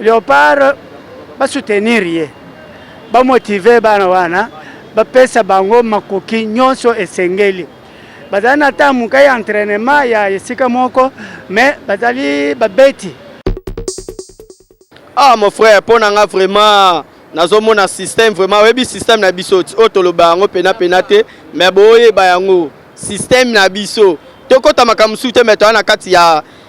Leopard ba soutenir ye, ba motiver bana wana, bapesa bango makoki nyonso esengeli. Bazali na ntango moke ya entraînement ya esika moko, mais bazali babeti. Ah mon frère, mpo na nga vraiment nazomona système vraiment oyebi système na biso ti oyo toloba yango pena pena te mais boyeba yango système na biso tokota makambo mosusu te mais toya na kati ya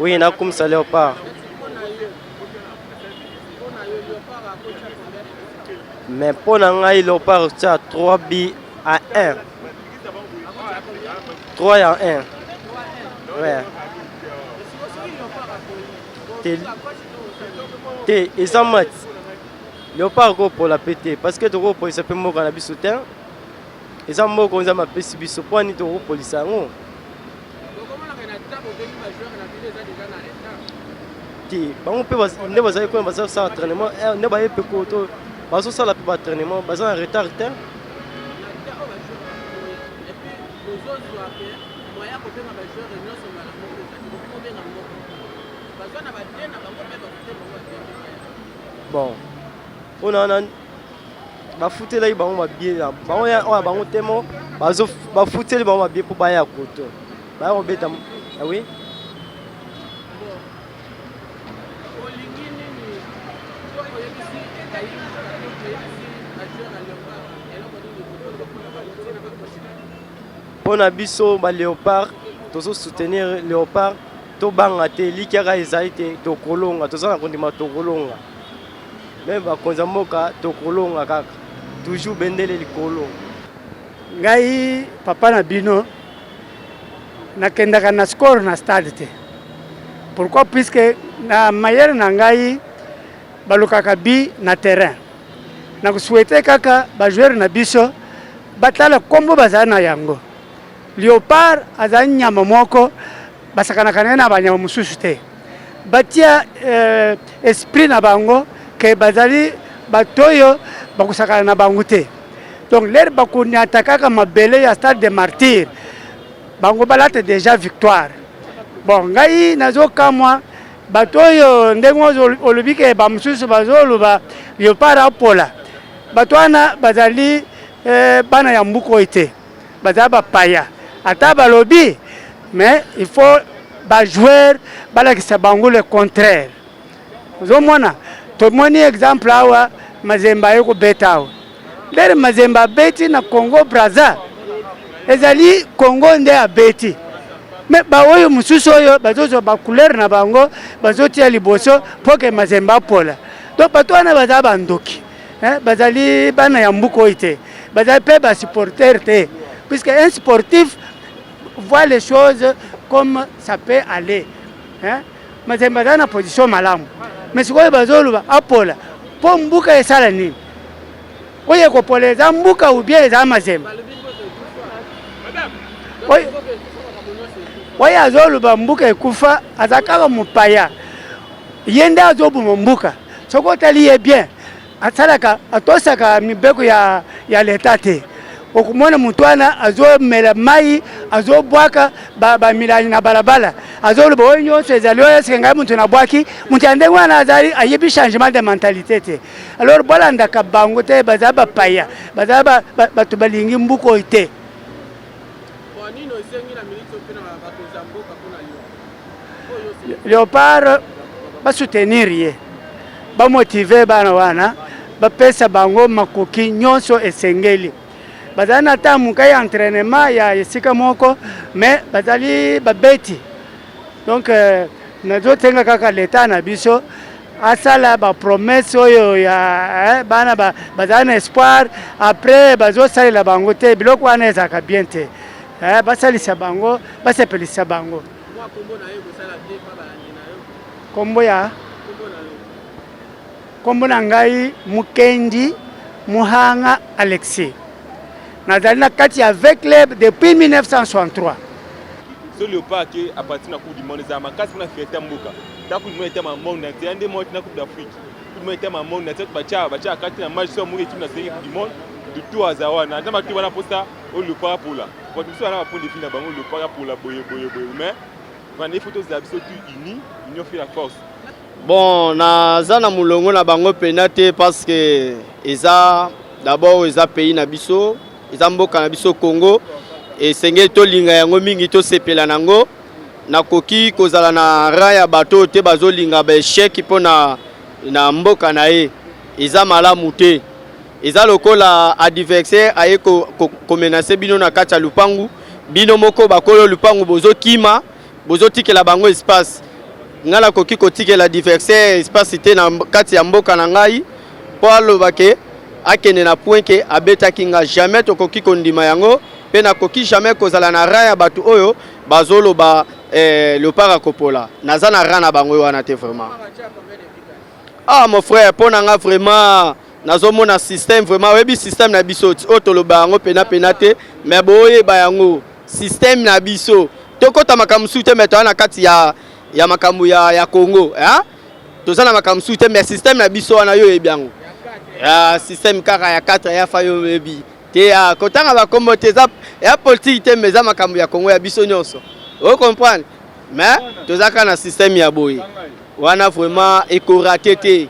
Oui, na kumisa Leopard. Mais mpo na ngai Leopard tia 3 bi à 1. 3 ya 1. Ouais. Te, te eza match. Leopard akopola mpe te parce que tokopolisa mpe mboka na biso te. Eza mboko nzambe apesi biso mpo ani tokopolisa yango te bango mpe nde bazali kuna baza kosala entraînement eh, nde baye mpe koto bazosala mpe baentraînement baza na retard te bon mpo na wana bafutelaki bango mabie na bango ya oyo ya bango te mo bazo bafuteli bango mabie mpo baya koto baya kobeta ah oui mpo na biso ba léopard tozo soutenir léopard tobanga te likiaka ezali te tokolonga toza na kondima tokolonga Meme bakonzi ya mboka tokolonga kaka toujours bendele likolo. Ngai papa na bino nakendaka na score na stade te pourquoi puisque na mayele na ngai balukaka bi na terrain na kosouhaite kaka bajoueur na biso batala nkombo bazali na yango leopard azali nyama moko Basakanaka na ye na banyama mosusu te. Batia eh, esprit na bango ke bazali bato oyo bakosakana na bango te. Donc lere bakonyata kaka mabele ya stade de martyr, bango balata deja victoire. Bon, ngai nazokamwa bato oyo ndenge olobi ke bamosusu bazoloba leopard apola bato wana bazali eh, bana ya mbuku oyo te baza ba paya ata balobi mais il faut ba joueur balakisa bango le contraire ozomona tomoni exemple awa mazemba aye kobeta awa ndere mazemba abeti na congo braza ezali congo nde abeti me baoyo mosusu oyo bazozwa bacouleur na bango bazotia liboso mpo ke mazemba apola donc bato wana baza bandoki eh, bazali bana ya mbuka oyo te bazali mpe basupporter te puisque un sportif voit les choses comme ça peut aller hein? mazali bazali na position malamu mais sikoyo bazoloba apola mpo mbuka esala nini oyo ekopola eza mbuka ou bien eza mazemba oyo azoloba mbuka ekufa aza kaka mopaya ye nde azoboma mbuka Soki otali ye bien, asalaka atosaka mibeko ya, ya leta te. Okomona moto wana azomela mai, azobwaka bamilangi na balabala, azoloba oyo nyonso ezali oyo esika ngai moto nabwaki. Moto ya ndenge wana azali ayebi changement de mentalite te. Alors bolandaka bango te, baza bapaya, baza bato balingi mbuku oyo te. leopard basoutenir ye bamotive bana wana bapesa bango makoki nyonso esengeli bazali na ntango moke ya entrainement ya esika moko me bazali babeti Donc euh, nazosenga kaka leta na biso asala bapromese oyo ya eh, bana bazala na espoir après bazosalela bango te biloko wana ezalaka bien te eh, basalisa bango basepelisa bango nkombo ya Kombo na ngai Mukendi Muhanga Alexis. Nazali na kati ya V Club depuis 1963. Ce leopard qui appartient à la Coupe du Monde, ça marque pour la fierté mboka. Ta Coupe du Monde est un monde entier, un des mois la Coupe d'Afrique. Coupe du Monde est un monde entier, ba cha ba cha kati na match sur mboka équipe nationale Coupe du Monde. De tout à Zawana, na matu wana posa au leopard pour la. Quand tu sois là pour les finales, bango leopard pour la boye boye boye mais on est faut tous habitués tous unis, union fait la force. Bon, naza na mulongo na bango pena te parce que eza d'abord eza pays na biso, eza mboka na biso Congo. Esengeli tolinga yango mingi, tosepela na yango. Nakoki kozala na rang ya bato oyo te bazolinga ba echec mpo na, na mboka na ye, eza malamu te. Eza lokola adversaire aye komenase ko, ko bino na kati ya lupangu, bino moko bakolo lupangu bozokima Bozo tikela bango espace. Nga na koki ko tikela diversaire espace te na kati ya mboka na ngai. Po aloba ke akende na point ke abetaki nga jamais tokoki kondima yango pe nakoki jamais kozala na rang ya batu oyo bazoloba eh, leopard akopola naza na rang na bango wana te vraiment ah mon frère mpo na nga vraiment nazomona système vraiment oyebi système na biso oyo toloba yango pena pena te mais boyeba yango système na biso tokota makambo mosusu te me toya na kati ya, ya makambo ya, ya congo eh? toza na makambo mosusu te me système na biso wana yo oyebi yango ya système kaka ya 4 ya fa yo oyebi te ya kotanga bakombo te eza ya politike te me eza makambo ya congo ya biso nyonso o comprendre me toza kaka na système ya boye wana vraiment ekorate te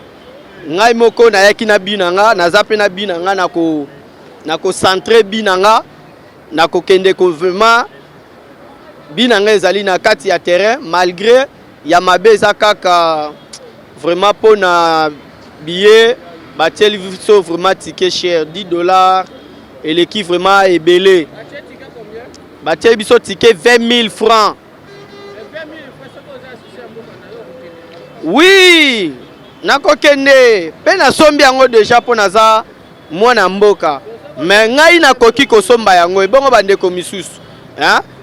ngai moko nayaki na bi na nga naza mpe na bi na nga na kocentre bi na nga Na kokende ko vraiment bi na nga ezali na kati ya terrain malgre ya mabe eza kaka vraiment mpo na billet batieli biso vraiment ticket cher 10 dollars eleki vraiment ebele batieli biso ticket 20 000 francs oui nakokende mpe nasombi yango deja mpo naza mwana mboka mais ngai nakoki kosomba yango ebongo bandeko misusu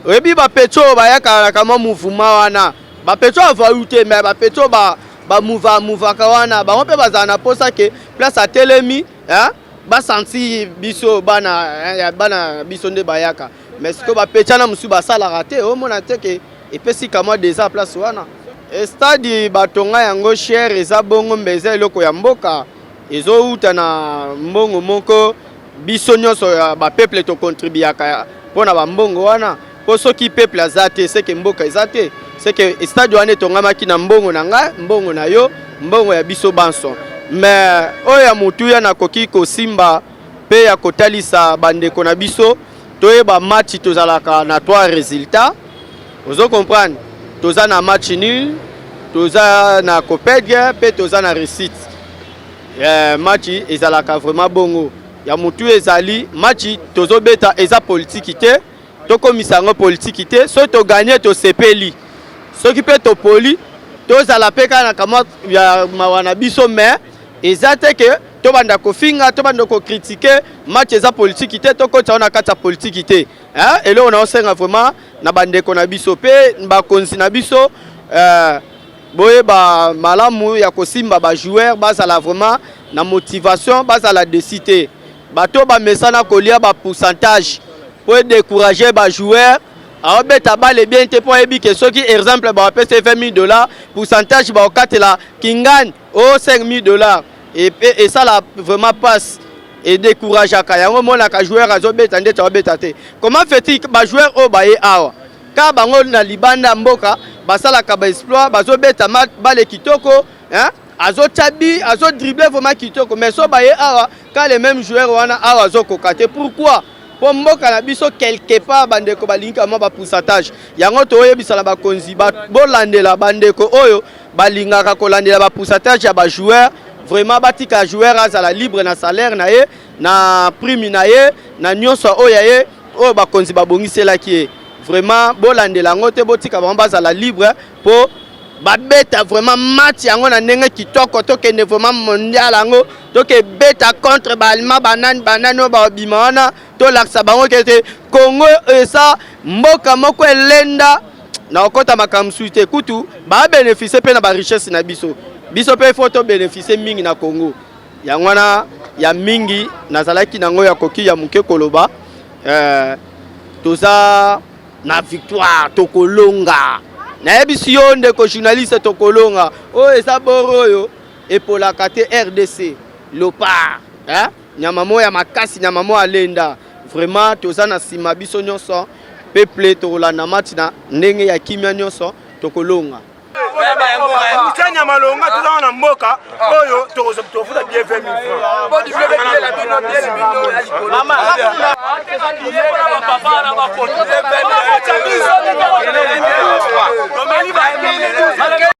oyebi bapeto oyo bayaka na kamwa mouvuma wana bapeto avau te mais bapeto ba bamuva muvaka wana bango mpe bazala na mposa ke place atelemi basanti biso bana ya bana biso nde bayaka mais sikoyo bapetiana mosusu basalaka te omona te ke epesi kamwa desa place wana estadi batonga yango chere eza bongo mbe eza eloko ya mboka Ezo uta na mbongo moko biso nionso ya ba peuple to contribuaka pona ba mbongo wana po soki peuple aza te seke mboka eza te seke stade wana etongamaki na mbongo na ngai mbongo na yo mbongo ya biso banso mais oyo ya motuya nakoki kosimba pe ya kotalisa bandeko na biso toyeba match tozalaka na trois resultats ozo comprendre toza na match nul toza na copedge mpe toza na réussite eh, match ezalaka vraiment bongo ya motu ezali match tozobeta eza politiki te tokomisa yango politiki te soki toganye tosepeli soki mpe topoli tozala mpe kaka na kamwa ya mawa na biso mais Eza te que to banda ko finga, to banda ko critiquer, match eza politique te, to kota na kati ya politique te. Hein? Eloko na osenga vraiment na bandeko na biso pe ba konzi na biso euh, boyeba malamu ya kosimba ba joueurs bazala vraiment na motivation bazala desi te bato bamesana kolia ba pourcentage mpo edécourage ba joueurs aobeta bale bien te mpo ayebi ke soki exemple bawapesa 20 000 dollars pourcentage baokatela kingani Oh 5000 dollars et, et, et ça là vraiment passe et décourageaka yango monaka joueur azobeta ndeti aobeta te comment fait-il bajoueur oyo baye awa ka bango na libanda ya mboka basalaka baexploit bazobeta bale kitoko hein? azotya bi azodrible vraiment kitoko mais so baye awa ka le même joueur wana awa azokoka te pourquoi mpo mboka na biso quelque part bandeko balingi kamwa bapoussatage yango toyebisa na bakonzi bolandela bandeko oyo balingaka kolandela ba pourcentage ya ba joueur vraiment batika joueur azala libre na salaire na ye na prime na ye na nyonso oyo ya ye oyo bakonzi babongiselaki ye vraiment bolandela yango te botika bango bazala libre mpo babeta vraiment match yango na ndenge kitoko tokende vraiment mondial yango tokebeta contre baalima banani banani oyo babima wana tolakisa bango kete congo eza mboka moko elenda na kokota makambo mosusu te kutu babenefisie mpe na barichesse na biso biso mpe fo tobenefisie mingi na congo yango wana ya mingi nazalaki na yango ya koki ya moke koloba eh, toza na victoire tokolonga nayebisi yo ndeko journaliste tokolonga oyo oh, eza boro oyo epolaka te rdc lopar eh? Nyama moya makasi, nyama moya lenda. Vraiment toza na sima biso nyonso peuple tokolanda match na ndenge ya kimia nyonso tokolonga. Moussa Nyamalonga toza wana mboka oyo tokofuta bie 20 000 francs.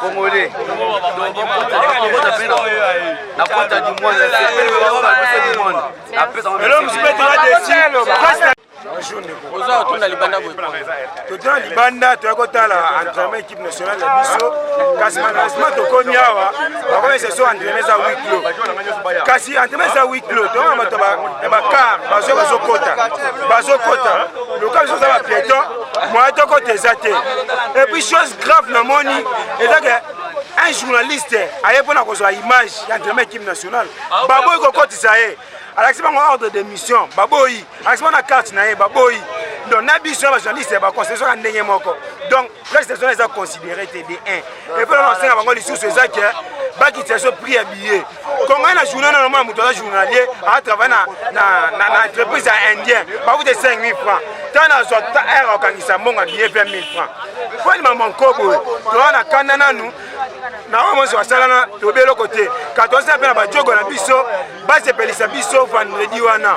Congolais. La pointe du monde, c'est le du monde. Après, ça va Mais l'homme se met là dessus. oza otuna libanda boye totuna libanda toya kotala entraînement équipe nationale na biso kasi malheureusement tokomi awa bakomesa so entraînement eza huit clos kasi entraînement eza huit clos toyona bato ya bakar bazo bazokota bazokota loka biso oza bapiéton moyen tokota eza te epuis chose grave namoni eza ke un journaliste aye mpo na kozwa image ya entraînement équipe nationale ah, baboyi kokotisa ye alakisi bango ordre de mission baboyi alakisi bango na carte na ye baboyi donc na biso ya bajournaliste baconstitutiona ndenge moko donc prestation eza considéré te de 1 epe nasenga bango lisusu eza ke bakitisa biso prix ya billet kongai na journal na nomona moto aza journalier atravaille na entreprise ya indien bakute 5000 francs ntango nazwa aire akangisa mbongo ya billet 20 000 francs mpo ni mama nkoboye toza na kanda nanu na oyo monso basalana tobi eloko te katosi na mpe na bajogo na biso basepelisa biso vandredi wana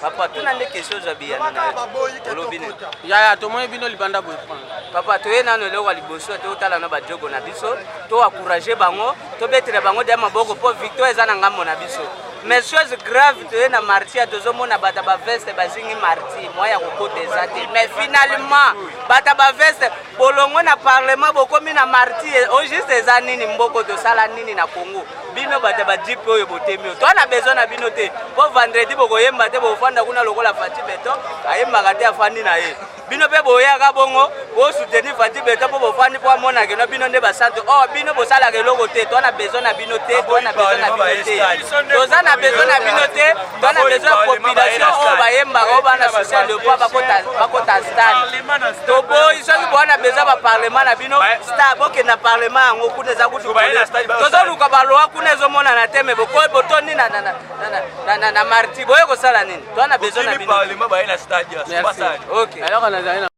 papa tuna nde question ozwa biyano na yo olobi nini yaya tomoni bino libanda boye papa toye nano eloko ya liboso te otala na bajogo na biso to encourage bango tobetela bango dia maboko mpo victoire eza na ngambo na biso mais chose grave toye na martia tozomona bata baveste bazingi marti mwa ya kokota eza te mais finalement bata baveste bolongwe na parlement bokomi na marti au juste eza nini mboko tosala nini na congo bino bato ya bajipe oyo botemi oyo toa na besoin na bino te mpo vendredi bokoyemba te bofanda kuna lokola fati beton ayembaka te afandi na ye bino mpe boyaka bongo bosoutenir fati beton mpo bofandi mpo amonake no bino nde basantu o oh, bino bosalaka eloko te toa na besoin na bino te toa na besoin na bino te toza na besoin na bino te bana besoin population oyo bayembaka oyo bana social de poids bakota stade toboyi soki bowana besoin baparlement na bino stade bokenda parlement yango kuna eza kutu tozoluka baloi kuna ezomonana te me bokoyi botondi na marti boye kosala nini towana besoin na bino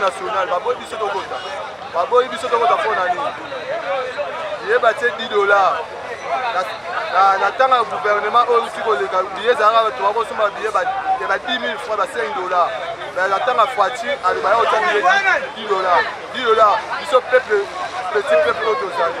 national baboyi biso tokota baboyi biso tokota mpo na nini ye batie 10 dollar na ntango ya gouvernement oyo euti koleka biye ezalaka bato bakosomba biye ya ba 10 000 franc ba 5 dollar na ntango ya fati aloba ya kotya biye 10 dollar 10 dollar biso peuple petit peuple oyo tozali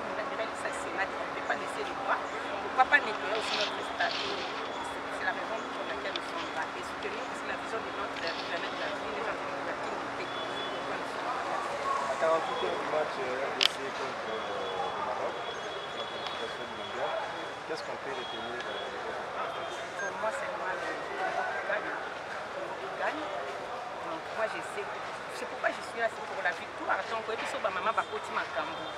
c'est pourquoi je suis là c'est pour la victoire donc oyebi so bamama bakoti makambo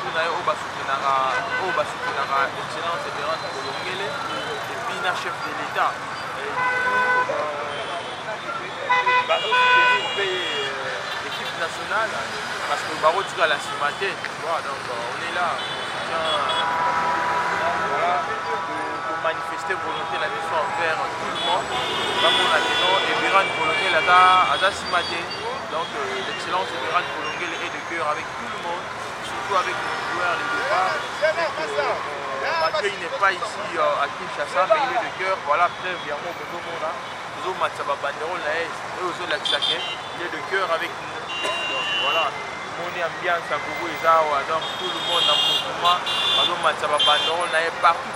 Tour na ye oyo basutenaka oyo basutenaka excellence Eberante Kolongele epuis na chef de l'Etat bazosoutenir mpe équipe nationale parce que bakotikala nsima te donc on est là manifester volonté na biso envers tout le monde bamona ke non eberane kolongele aza nsima te donc l'excellence eberane kolongele est de cœur avec tout le monde surtout avec le joueur de départ, malgré il n'est pas ici euh, à Kinshasa, mais il est de cœur, voilà, preuve, yango okozomona, ozomatisa babanderole na ye, oyo ozolakisa ke, il est de cœur avec nous, donc voilà, moni ambiance ya gogo eza awa, donc tout le monde na mouvement, bazomatisa babanderole na ye partout,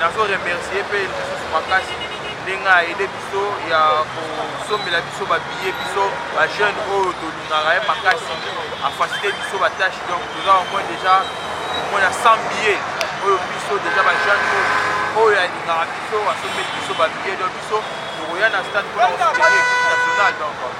nazo remercier mpe lisusu makasi ndenge aide biso ya kosombela biso babiye biso bajeune oyo tolingaka ye makasi afasite biso batâche donc toza omoi déjà omoi na 100 biye oyo biso déjà bajeune oyo alingaka biso asombeli biso babiye donc biso tokoya na stade mpona kosuteni ekipe nationale donc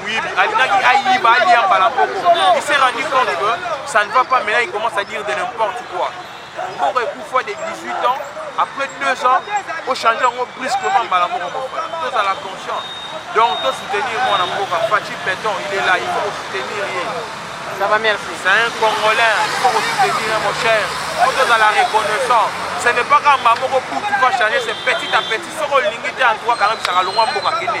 moyibi alingaki ayiba alia mbala moko il s'est rendu compte que ça ne va pas maintenant il commence à dire de n'importe quoi mboka ekufa de 18 ans après 2 ans ochange yango brusquement mbala moko mon frère tozala conscient donc tosoutenir mwana mboka faci beton il est là il faut soutenir ye ça va merci c'est un congolais il faut soutenir mon cher faut tozala reconnaissant ce n'est pas kamba moko butu va changer c'est petit à petit soki olingi te antoua kanga bisaka longwa mboka kende